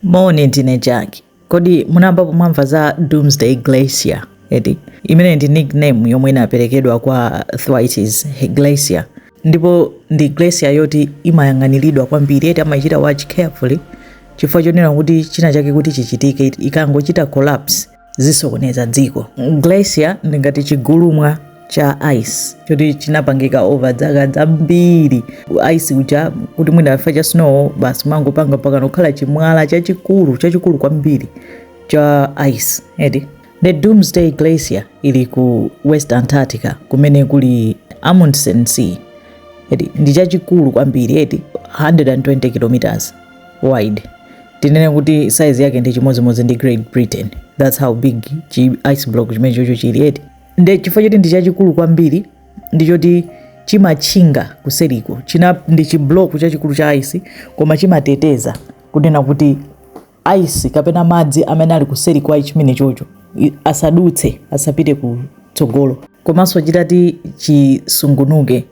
Moni, ndine Jack. Kodi munayambapo mwamva za Doomsday Glacier? Eti imene ndi nickname yomwe inaperekedwa kwa Thwaites Glacier, ndipo ndi glacier yoti imayang'aniridwa kwambiri, eti amaichita watch carefully chifukwa chonena kuti china chake kuti chichitike ikangochita collapse zisokoneza dziko. Glacier ndi ngati chigulumwa cha ice choti chinapangika over dzaka dzambiri ice uja kuti mwina chifukwa cha snow basi mangopanga mpaka kukhala chimwala chachikulu chachikulu kwambiri cha ice eti nde doomsday glacier ili ku west antarctica kumene kuli amundsen sea eti ndi chachikulu kwambiri eti 120 kilometers wide tinene kuti size yake ndi chimodzimodzi ndi Great Britain that's how big chi ice block chimene chocho chili eti nde chifukwa choti ndi chachikulu kwambiri ndi choti chimatchinga kuseriko ndi chiblock chachikulu cha ice koma chimateteza kunena kuti ice kapena madzi amene ali kuseri kwa chimene chocho i- asadutse asapite kutsogolo komanso chitati chisungunuke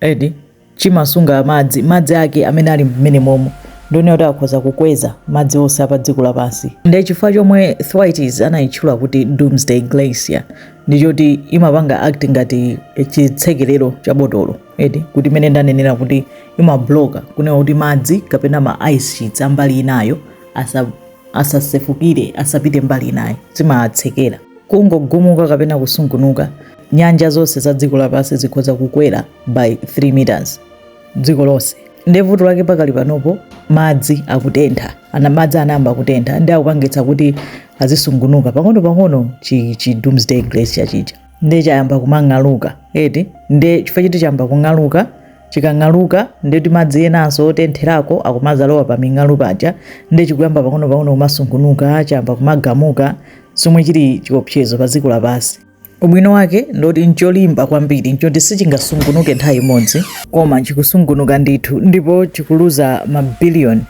eti chimasunga madzi madzi ake amene ali mmene momo ndi onena kuti akhoza kukweza madzi onse apa dziko lapansi ndi chifukwa chomwe thwaites anayitchula kuti doomsday glacier ndi choti imapanga act ngati chitsekerero cha botolo eti kuti mmene ndanenera kuti imabloka kunena kuti madzi kapena ma ice sheets ambali inayo asa asasefukire asapite mbali inayo imatsekera kungogumuka kapena kusungunuka nyanja zonse za dziko lapansi zikhoza kukwera by 3 meters dziko lonse nde vuto lake pakali panopo madzi akutentha ana madzi anayamba kutentha ndi akupangitsa kuti azisungunuka pang'ono pang'ono chi, chi doomsday glacier chija nde chayamba kumang'aluka eti nde chifukwa choti chayamba kung'aluka chikang'aluka nde kuti madzi enanso otentherako akumazalowa pa ming'alu paja nde chikuyamba pang'ono pang'ono kumasungunuka chayamba kumagumuka zomwe chili chiopsezo pa dziko lapansi Ubwino wake ndiwoti n'cholimba kwambiri n'choti sichingasungunuke nthawi imodzi koma chikusungunuka ndithu ndipo chikuluza mabiliyoni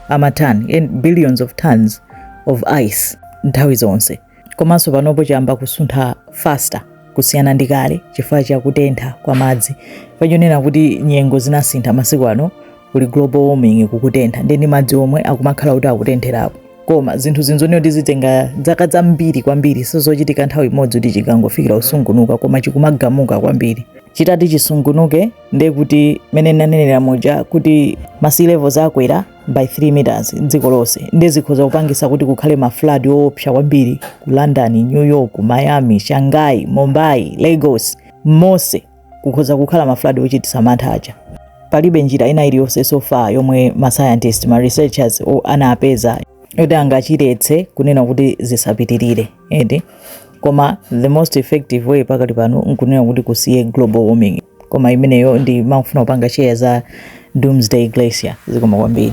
a matani billions of tons of ice nthawi zonse. Komanso panopo chayamba kusuntha faster kusiyana ndi kale chifukwa cha kutentha kwa madzi. Chifukwa chonena kuti nyengo zinasintha masiku ano kuli global warming kukutentha ndiye ndi madzi omwe akumakhala kuti akutentherako koma zinthu zimenezi zizitenga dzaka zambiri kwambiri sizochitika nthawi imodzi kuti chingofikira kusungunuka koma chikumagumuka kwambiri chitati chisungunuke ndiye kuti mmene ndanenera muja kuti ma sea levels akwera by 3 meters dziko lonse ndiye zikhoza kupangisa kuti kukhale ma flood oopsa kwambiri ku london new york miami shanghai mumbai lagos monse kukhoza kukhala mafuladi ochititsa mantha aja palibe njira ina iliyonse so far yomwe ma scientist ma researchers o- anapeza yoti angachiletse kunena kuti zisapitirire eti koma the most effective way pakali pano ndi kunena kuti kusiye global warming koma imeneyo ndimafuna kupanga share za doomsday glacier zikoma kwambiri